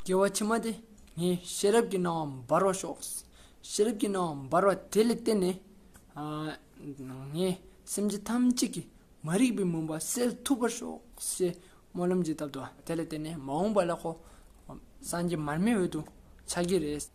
རྒྱལ་བ་ཕྱི་མ་དེ་ངའི་ཤེས་རབ་ཀྱི་སྣང་བ་འབར་བར་ཤོག། ཤེས་རབ་ཀྱི་སྣང་བ་འབར་བ་དེ་ལ་བརྟེན་ནས། ངའི་སེམས་ཅན་ཐམས་ཅད་ཀྱི་མ་རིག་པའི་མུན་པ་སེལ་ཐུབ་པར་ཤོག་ཅེས་སྨོན་ལམ་གྱིས་བཏབ་ཏོ། དེ་ལ་བརྟེན་ནས་མ་འོངས་པ་ལ་ཁོ་སངས་རྒྱས་མར་མེའི་འོད་དུ་ཆགས་ཀྱི་རེད།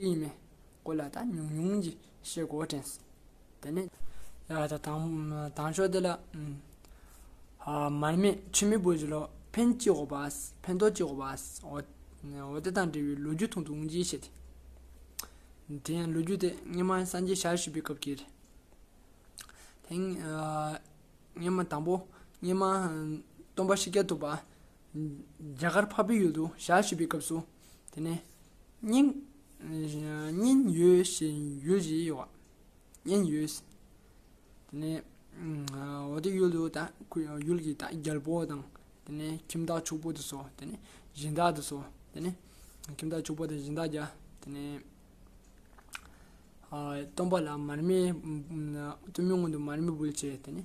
ཡིན་མིན་སྐོར་ལ་ད་ཉུང་ཉུང་གི་ཤེས་སྒོ་དྲན། དེ་ནས། དང་ཕྱོགས་དེ་ལ། མར་མེ་ཆུ་མེ་བོད་ཀྱི་ལོ་འཕེན་སྐྱིད་ཧོ་པ། འཕེན་ཏོ་སྐྱིད་ཧོ་པ། འོ་དེ་དང་འབྲེལ་བའི་ལོ་རྒྱུས་ཐུང་ཐུང་གཅིག་བཤད་དེ། དེ་ཡང་ལོ་རྒྱུས་དེ་སྔོན་མ་སངས་རྒྱས་ཞལ་བཞི་པའི་སྐབས་ཀྱི་རེད། དེ། སྔོན་མ་དང་པོ། སྔོན་མ། སྟོན་པ་ཤཱཀྱ་ཐུབ་པ། རྒྱ་གར་འཕགས་པའི་ཡུལ་དུ་ཞག་བཞི་པའི་སྐབས་སུ། དེ་ནས་སྙིང། སྙིང། ཡོད་བཞིན་ཡུལ་བཞི་ཡོད། སྙིང་ཡོད། དེ་ནས། འོ་དེ་ཡུལ་དུ་དང་ཡུལ་གྱི་དང་རྒྱལ་པོ་དང། དེ་ནས་ཁྱིམ་བདག་ཕྱུག་པོ་དུ་སོ། དེ་ནས་གཞི་བདག་དུ་སོ། དེ་ནས། ཁྱིམ་བདག་ཕྱུག་པོ་དང་གཞི་བདག་བརྒྱ། དེ་ནས། སྟོན་པ་ལ་མར་མེ། སྟོན་མོའི་སྔོན་དུ་མར་མེ་འབུལ་བྱེད། དེ་ནས།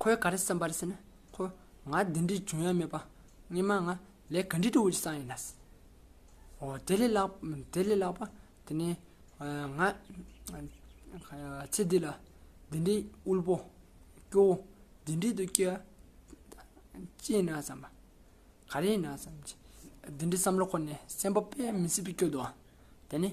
ཁོས་ག་རེ་བསམ་པ་རེད་ཟེར་ན། ཁོ། ང་འདི་འདྲའི་འཇོན་ཡ་མེད་པ། སྙེ་མ་ང། ལས་ག་འདྲའི་དྲོ་བོ་ཞིག་བསགས་ཡིན་ན། དེ་ལས་ལྷག་དེ་ལས་ལྷག་པ། དེ་ནས། ང། ཚེ་འདི་ལ། འདི་འདྲའི་དབུལ་པོ། སྐྱོ་བོ། འདི་འདྲའི་དུ་སྐྱེ། ཅི་ཡིན་ན་བསམ་པ། ག་རེ་ཡིན་ན་བསམ། འདི་འདྲའི་བསམ་བློ་ཁོ་ནས་སེམས་པ་དཔེ་མི་སྲིད་པའི་སྐྱོ་དུ། དེ་ནས།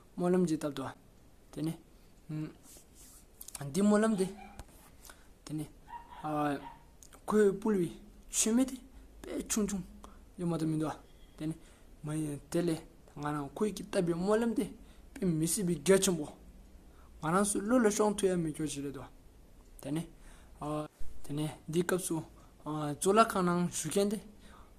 སྨོན་ལམ་གྱིས་བཏབ་ཏོ། དེ་ནས། འདི་སྨོན་ལམ་སྟེ། དེ་ནས། ཁོའི་སྤུ་ལུའི་ཆུན་མེ་དེ་དཔེ་ཆུང་ཆུང་གཡོན་མ་དུ་མི་འདུག་ཨ། དེ་ནས། མ་ཡིན། དེ་ལས་ང་རང་ཁོས་ཀྱིས་བཏབ་པའི་སྨོན་ལམ་དེ་དཔེ་མི་སྲིད་པའི་རྒྱ་ཆེན་པོ། ང་རང་སུ་ལུས་ལ་ཤོང་ཐུ་ཡ་མི་སྐྱོ་བྱེད་རེད་དོ། དེ་ནས། དེ་ནས་འདིའི་སྐབས་སུ། གཙུག་ལག་ཁང་ནང་བཞུགས་མཁན་དེ།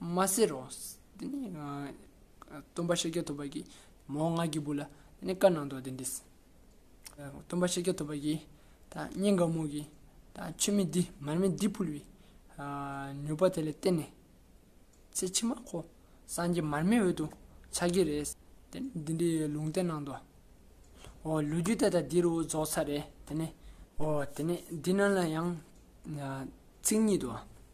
མ་ཟེར་རོ། དེ་ནས་སྟོན་པ་ཤཱཀྱ་ཐུབ་པ་ཀྱིས་མོ་ལྔ་བརྒྱ་བུ་ལ་དེ་ནས་བཀའ་གནང་དོ་དེ་འདྲས། སྟོན་པ་ཤཱཀྱ་ཐུབ་པ་ཀྱིས་ད་སྙིང་ག་མོ་གིས་ད་ཆུ་མིག་འདི་མར་མེ་འདི་ཕུལ་བའི་མྱུར་བ་དེ་ལ་བརྟེན་ནས་ཚེ་ཕྱི་མ་ཁོ་སངས་རྒྱས་མར་མེའི་འོད་དུ་འཆར་གྱི་རེད། དེ་ནས་འདི་འདྲའི་ལུང་བསྟན་གནང་དོ། ཨོ་ལོ་རྒྱུད་ད་ལྟ་འདི་རུ་རྫོགས་ཚར་རེད་དེ་ནས། ཨོ་དེ་ནས་འདི་རྣམས་ལ་ཡང་ཚིག་ཉིད་དོ།